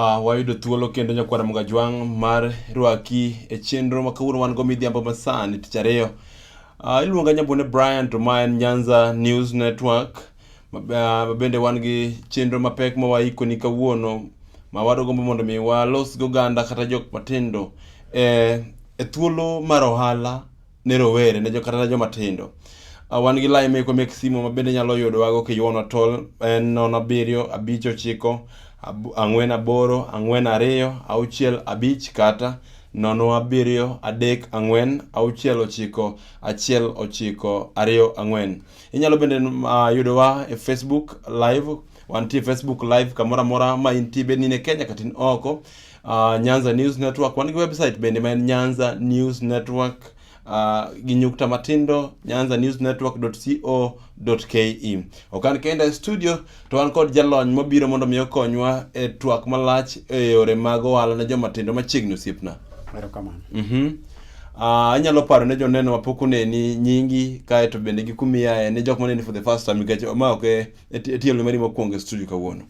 Uh, wayudo thuolo kendo nyakwara Mugajwang' mar rwaki e chenro ma kawuono wan go midhiambo masani tich ariyo. Uh, iluonga Nyambone Brian to ma en Nyanza News Network ma bende wan gi chenro mapek ma waikoni kawuono ma wadogombo mondo mi walos goganda kata jok matindo e, e thuolo mar ohala ne rowere ne kata ne joma tindo. Uh, wan gi lai meko mek simo ma bende nyalo yudowago kiyuono tol en nono abiriyo abich ochiko ang'wen aboro ang'wen ariyo auchiel abich kata nono abiriyo adek ang'wen auchiel ochiko achiel ochiko ariyo ang'wen inyalo bende uh, yudowa e facebook live wantie facebook live kamoro amora ma intie bed ni ne kenya kata in oko uh, Nyanza News Network, wan gi website bende ma en Nyanza News Network uh, gi nyukta matindo nyanza news network co ke okan kenda e studio to wan kod jalony mobiro mondo mi okonywa e twak malach e yore mag ohala ne joma tindo machiegni osiepna erokamano mm -hmm. Uh, anyalo paro ne joneno mapok oneni nyingi kae to bende gi kumiyae ne jok maneni for the first time nikech ma ok e, e, e tielo mari mokwongo e studio kawuono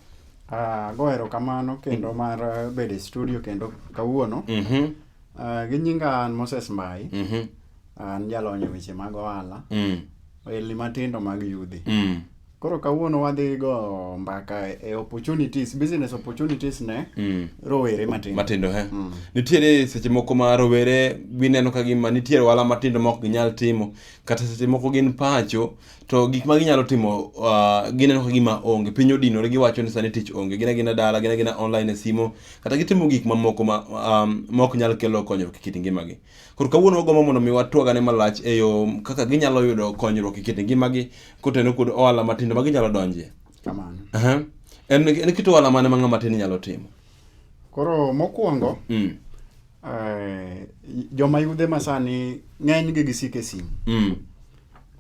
Ah, go erokamano kendo mm. mar eh, bedo e studio kendo kawuono. Mm-hmm. Ah, gi nyinga an Moses Mbai. Mm-hmm. An jalony e weche mag ohala. Mm. Ohelni matindo mag yudhi. Mm. Koro kawuono wadhi go mbaka e opportunities, business opportunities ne mm. rowere matindo. Matindo, he. Mm. Nitiere seche moko ma rowere gineno ka gima nitiere ohala matindo ma ok ginyal timo. Kata seche moko gin pacho. to gik ma ginyalo timo uh, gineno ka gima onge piny odinore giwacho ni sani tich onge gina gina dala gina gina online e simo kata gitimo gik mamoko ma um, mok nyal kelo konyruok e kit ngimagi koro kawuono wagombo mondo mi watwagane malach e yo kaka ginyalo yudo konyruok e kit ngimagi koteno kod ohala matindo ma ginyalo donjie kamano uh -huh. en, en kit ohala mane ma ng'ama tin nyalo timo koro mokwongo mm. eh, joma yudhe masani ng'enygi gisike simu mm.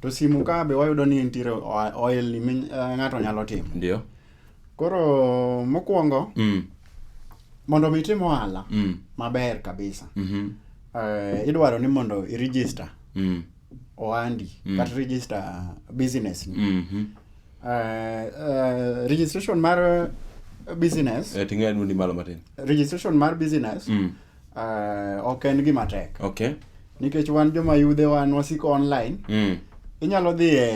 to simu ka be wayudo ni nitiere oil ni eh, ng'ato nyalo timo ndio koro mokwongo mm. mondo mi itim ohala mm. maber kabisa mm -hmm. uh, eh, idwaro ni mondo iregister mm. ohandi mm. kata register business ni mm -hmm. uh, uh, registration mar business eh, ting'e ni malo matin registration mar business mm. Uh, ok en gima tek. Okay. Nikech wan joma yudhe wan wasiko online. Mm. Inyalo dhi e,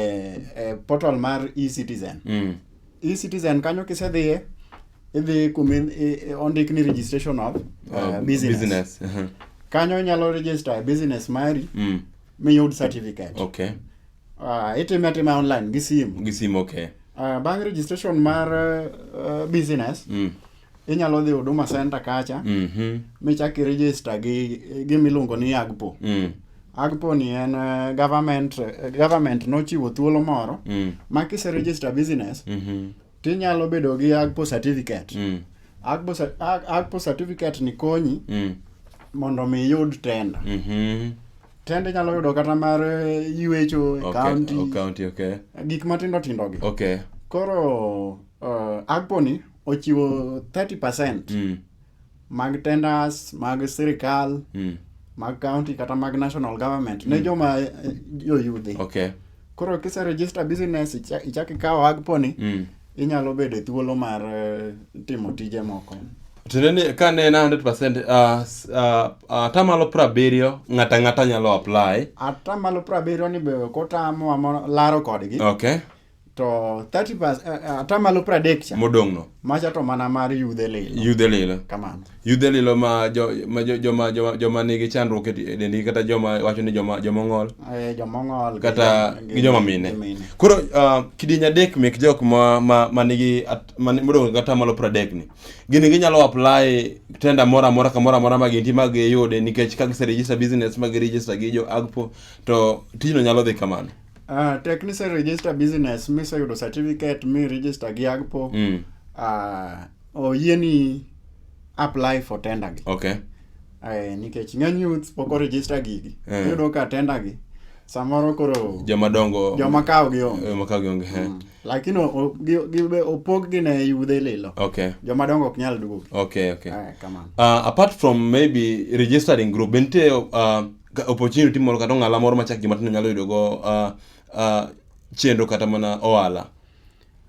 e portal mar e-citizen. Mm. E-citizen kanyo kisedhiye idhi kuma ondik ni registration of uh, uh, business. business. Uh -huh. Kanyo inyalo register business mari mm. miyud certificate. Okay. Uh, itime atima online gi simu. Gi simu okay. Uh, bang registration mar uh, uh business. Mm inyalo dhi huduma center kacha mm -hmm. michak iregister gi gimiluongo ni agpo mm. agpo ni en uh, government uh, government nochiwo thuolo moro mm. ma kise register business mm -hmm. tinyalo bedo gi agpo certificate mm. agpo, agpo certificate ni konyi mm. mondo mi iyud tenda mm -hmm tende nyalo yudo kata mar eh, yuecho okay, county, county okay. gik matindo tindogi okay. koro uh, agponi ochiwo 30 percent mm. mag tenders mag sirikal mm. mag county kata mag national government mm. ne joma eh, joyudhi okay. koro kise register business ichak ikawo agponi mm. inyalo bedo e thuolo mar eh, timo tije moko tiende ni ka ne en 100 percent ah, ah, ah, atamalo prabiriyo ng'ato ang'ata nyalo apply atamalo prabiriyo ni be kotamo laro kodgi okay to 30 pas eh, eh, atamalo pradek cha modong' no macha to mana mar yudhe lilo yudhe lilo kamano yudhe lilo ma jo, ma jo, joma joma joma nigi chandruok e di- e dendgi kata joma wacho ni joma joma ng'ol Eh, jomong'ol kata gi joma mine koro uh, kidieny adek mek jok ma ma ma nigi at- ma ni- modong' kata malo pradek ni gini ginyalo apply tenda moro amora kamoro amora ma gintie ma giyude nikech ka giserejista business ma girejista gi jo agpo to tijno nyalo dhi kamano Uh, tek ni se register business mi se yudo certificate mi register gi agpo mm. uh, oyie ni apply for tender gi okay. uh, nikech ng'eny youth pok oregister gigi uh. iyudo ka tender gi samoro koro jomadongo joma kawo gi onge joma kawo gi onge mm. lakini opog gi ne yudhe lilo okay joma dongo ok nyal duogo okay okay uh, come on uh, apart from maybe registering group bente uh, opportunity moro kata ong'ala moro machak joma tindo nyalo yudo go uh, uh, chendo kata mana ohala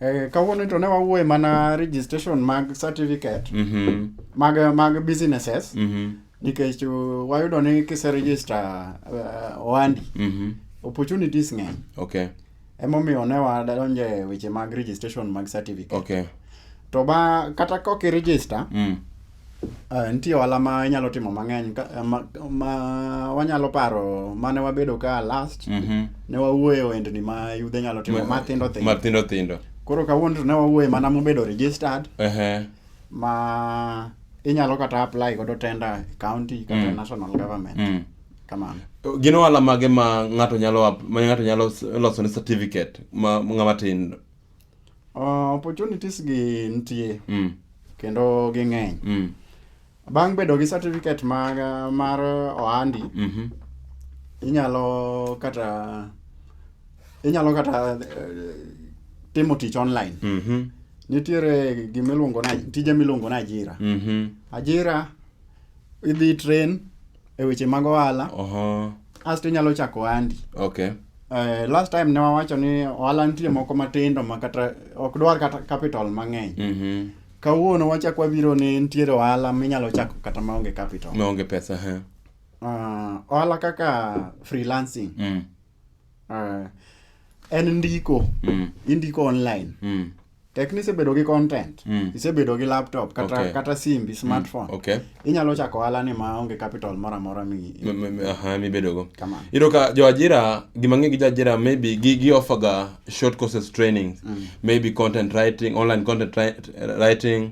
Eh, kawuono to ne wawuoye mana registration mag certificate mm -hmm. mag mag businesses mm -hmm. nikech uh, wayudo ni kise register uh, ohandi mm -hmm. opportunities ng'eny okay Emomiyo ne wadonjo e weche mag registration mag certificate. Okay. To ba kata ka ok i-register, Mm. eh, nitie ohala ma inyalo timo mang'eny ka- eh, ma, ma wanyalo paro mane wabedo ka last Mhm. ne wawuoye ohendni ma yudhe nyalo timo mathindo thindo. Mathindo thindo. Koro kawuono to ne wawuoye mana mobedo registered Ehe. ma inyalo kata apply godo tender e county kata e Mm. national government. Mm. Kamano. Gin ohala mage ma ng'ato nyalo ma ng'ato nyalo loso ne certificate ma ng'ama tin? Uh, opportunities gi nitie. Mm. Kendo ging'eny. Mm. Bang' bedo gi certificate mar mar ohandi. Mm -hmm. Inyalo kata inyalo kata eh, timo tich online. Mm -hmm. Nitiere gima iluongo na tije miluongo na ajira. Mm -hmm. Ajira idhi train e weche mag ohala Oho. asto inyalo chako ohandi Okay. Eh, last time ne wawacho ni ohala nitie moko matindo ma kata ok dwar kata capital mang'eny Mhm. kawuono wachak wabiro ni nitiere ohala minyalo chako kata maonge capital Maonge pesa ha. Ah, ohala kaka freelancing Mm. Uh, en ndiko mm. indiko online mm. tek ni isebedo gi content mm. isebedo gi laptop kata, okay. kata simbi mm. smartphone mm. okay. inyalo chako ohala ni ma onge capital moro amora mibedogo iyudo ka joajira gimang'e gi joajira maybe gi, gi offerga short courses training mm. maybe content writing online content writing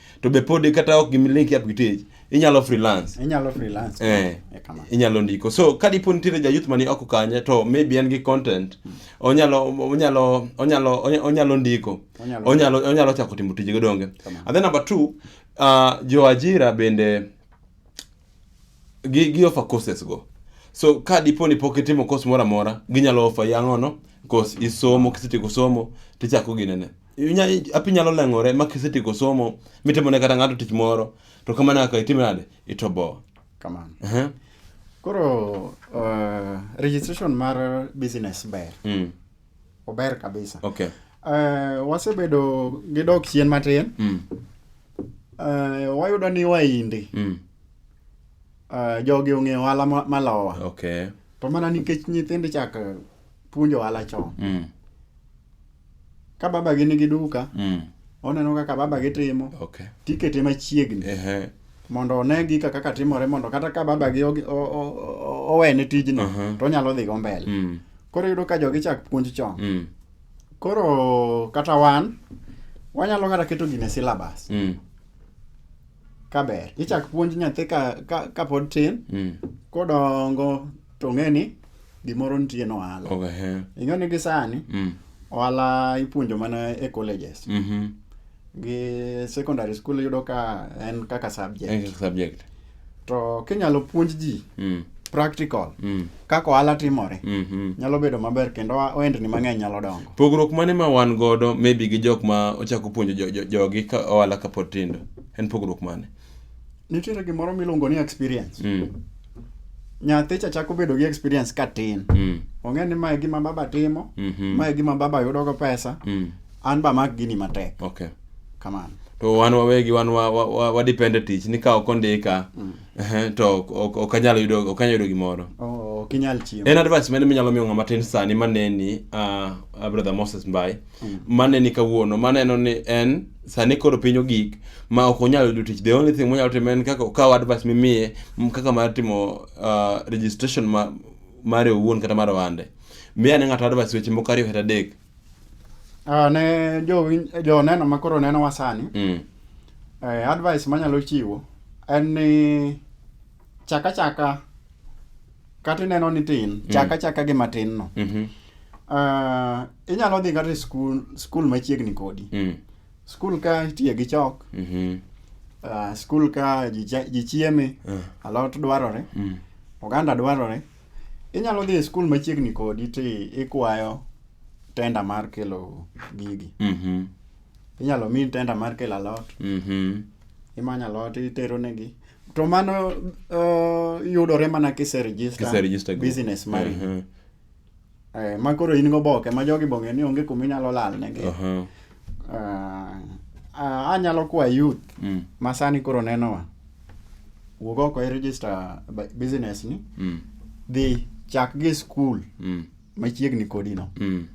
to be pod kata ok gimilink up gi tich inyalo freelance inyalo freelance eh, eh inyalo ndiko so ka dipo nitiere ja youth mani oko kanye to maybe en gi content hmm. onyalo onyalo onyalo onyalo ndiko onyalo onyalo chako timo tije donge and then number 2 uh, ah, jo ajira bende gi gi offer courses go so ka dipo ni pok itimo course moro amora ginyalo offer yangono course isomo kisetieko somo tichako ginene api nyalo leng'ore ma kisetieko somo mitimo ne kata ng'ato tich moro to kamano kaka itime nade itoboa kamano uh -huh. koro uh, registration mar business ber mm. ober kabisa okay. uh, wasebedo gi dok chien matin mm. uh, wayudo ni waindi mm. uh, jogi ong'eyo ohala malowa ma okay. to mana nikech nyithindo chak puonjo ohala chon mm. ka baba gi nigi duka mm. oneno kaka baba gi timo okay. tikete machiegni uh -huh. mondo one gika kaka timore mondo kata ka baba gi owene tijno uh -huh. to onyalo dhigo mbele mm. koro yudo ka jogi chak puonj chon mm. koro kata wan wanyalo kata keto gine syllabus mm. kaber ichak puonj nyathi ka, ka, ka pod tin mm. kodongo to ng'eni gimoro nitie no ohala oh, ing'eyo ni gisani mm. ohala ipuonjo mana e colleges mm -hmm. gi secondary school yudo ka en kaka subject, subject. to kinyalo puonj ji mm practical mm. kaka ohala timore mm -hmm. nyalo bedo maber kendo ohendni mang'eny nyalo dongo pogruok mane ma wan godo maybe gi jok ma ochako puonjo jogi jo, jo, ka ohala kapod tindo en pogruok mane nitiere gimoro miluongo ni experience mm. nyathi cha chako bedo gi experience ka tin mm. ong'e ni mae gima baba timo mm -hmm. mae gima baba yudogo pesa mm. an ba mak gini matek okay. kamano to wan wawegi wan wadepende wa, wa, wa tich ni ka ok ondika mm. to ok anyal yudo ok anyal yudo gimoro oh, ok inyal chiemo en advice mane minyalo miyo ng'ama tin sani maneni uh, brother Moses Mbai mm. maneni kawuono maneno ni en sani koro piny ogik ma ok onyal yudo tich the only thing monyalo timo en kaka okawo advice mimiye m- kaka mar timo uh, registration ma, mare owuon kata mar ohande miya ne ng'ato advice weche moko ariyo kata adek Ah, ne jowin- joneno ma koro nenowa sani mm. eh, advice manyalo chiwo en ni chaka chaka kata ineno ni tin mm. chaka chaka gi matin no mm -hmm. uh, inyalo dhi kata skul skul machiegni kodi mm. skul ka itiye gi chok mm -hmm. uh, skul ka ji chieme uh. Eh. alot dwarore mm. oganda dwarore inyalo dhi e skul machiegni kodi ti ikwayo tenda mar kelo gigi mm -hmm. inyalo mi tenda mar kelo alot mhm. imanyo alot itero negi to mano uh, yudore mana kiseregister business mari uh -huh. eh, ma koro in goboke ma jogi bong'e ni onge kuma inyalo lal negi uh -huh. uh, uh, anyalo kwa youth mm. ma sani koro nenowa wuog oko i register business ni mm. dhi chak gi school mm. machiegni kodino mm.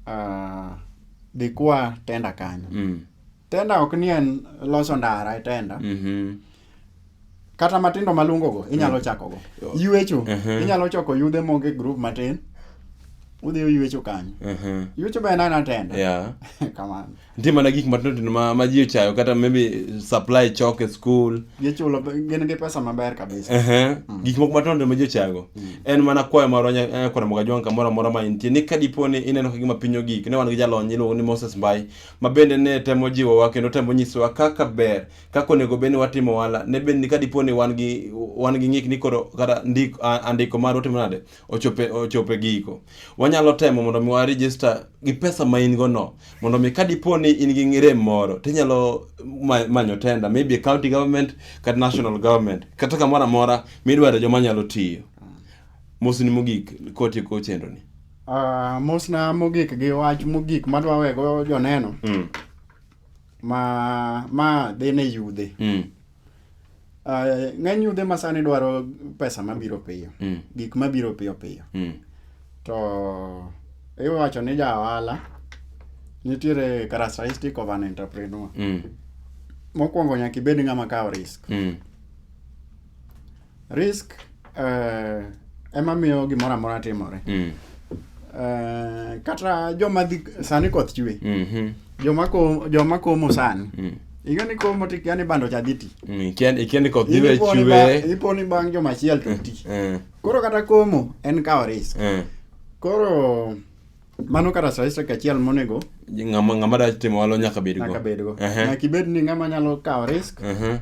uh, dhi kwa tenda kanyo mm. tenda ok ni en loso ndara e tenda mm -hmm kata matindo malungogo inyalo mm. chakogo yuecho uh-huh. inyalo choko yudhe moge group matin udhi uyuecho kanyo uh-huh. yuecho be en ana tenda kamano nitie mana gik matindo tindo ma, ma ji ochayo kata maybe supply chok e school gichulo gin gi pesa maber kabisa Ehe. gik moko matindo tindo ma ji ochayogo en mana kwayo marwa nya- kwara moga jwang' kamoro amora ma intie ni ka dipo ni ineno ka gima piny ogik ne wan gi jalony iluongo ni moses mbai ma bende ne temo jiwowa kendo temo nyisowa kaka ber kaka onego bed ni watimo ohala ne bed ni ka dipo ni wan gi wan gi ng'ik ni koro kata ndik- a- andiko marwa timo nade ochope ochope giko. Wanyalo temo mondo mi wa register gi pesa ma in go no mondo mi kadipo ni in gi ng'ire moro tinyalo ma- manyo tenda maybe county government kata national government kata kamoro amora midwaro joma nyalo tiyo. Mosni mogik kotieko chenro ni. Ah, mosna mogik gi wach mogik madwa wego joneno Mm. ma ma dhi ne yudhe Mm. Uh, ng'eny yudhe ma sani dwaro pesa mabiro piyo mm. gik mabiro piyo piyo mm. to iwacho ni ja ohala nitiere characteristic of an entrepreneur mm. mokwongo nyaka ibed ng'ama kawo risk mm. Risk uh, ema miyo gimoro amora timore. Mm. Uh, kata joma dhi sani koth chwe. Mm -hmm. Joma ko joma komo sani. Mm. Iga ni komo ti yani bando cha diti. Mm, ikian ikian ko diwe chwe. Ipo ni bang joma chiel to ti. Mm. Eh. Koro kata komo en kawo risk. Mm. Koro mano kata statistic achiel monego ng'ama ng'ama da timo walo nyaka bedgo nyaka bedgo uh -huh. nyaka ibed ni ng'ama nyalo kawo risk uh -huh.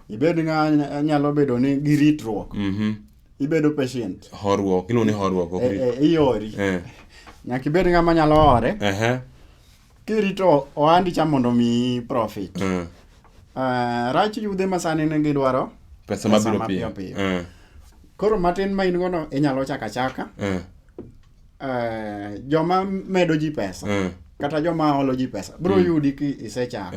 ibed ng'a nyalo bedo ni gi ritruok mhm. ibedo patient horuok iluongo ni horuok ok eh, eh, iori eh. nyaka ibed ng'a manyalo hore kirito ohandi cha mondo omiyi profit rach yudhe ma sani ne gidwaro pesa mabiro piyo piyo koro matin ma in gono inyalo chaka chaka joma medo ji pesa kata joma holo ji pesa bro mm. yudi ki isechako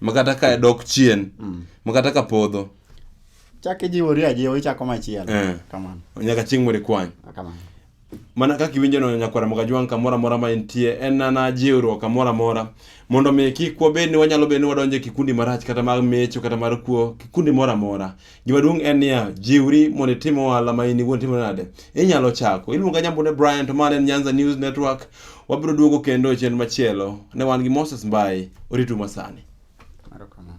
makata ka dok chien makata ka podho chak ijiwori ajiwa ichako machielo Eh. kamano nyaka chieng' mondo ikwany kamano mana kaka iwinjo no nyakwara mokajwang' kamoro amora ma entie en nana jiwruok kamoro amora mondo mi kik wabed ni wanyalo bedo ni wadonjo e kikundi marach kata mar mecho kata mar kuo kikundi moro amora Gima duong' en niya, jiwri mondo itim ohala ma in iwuon timo nade? Inyalo chako. Iluonga Nyambune Brian to ma en Nyanza News Network. Wabiro duogo kendo e chenro machielo. Ne wan gi Moses Mbai, oritu masani. Erokamano.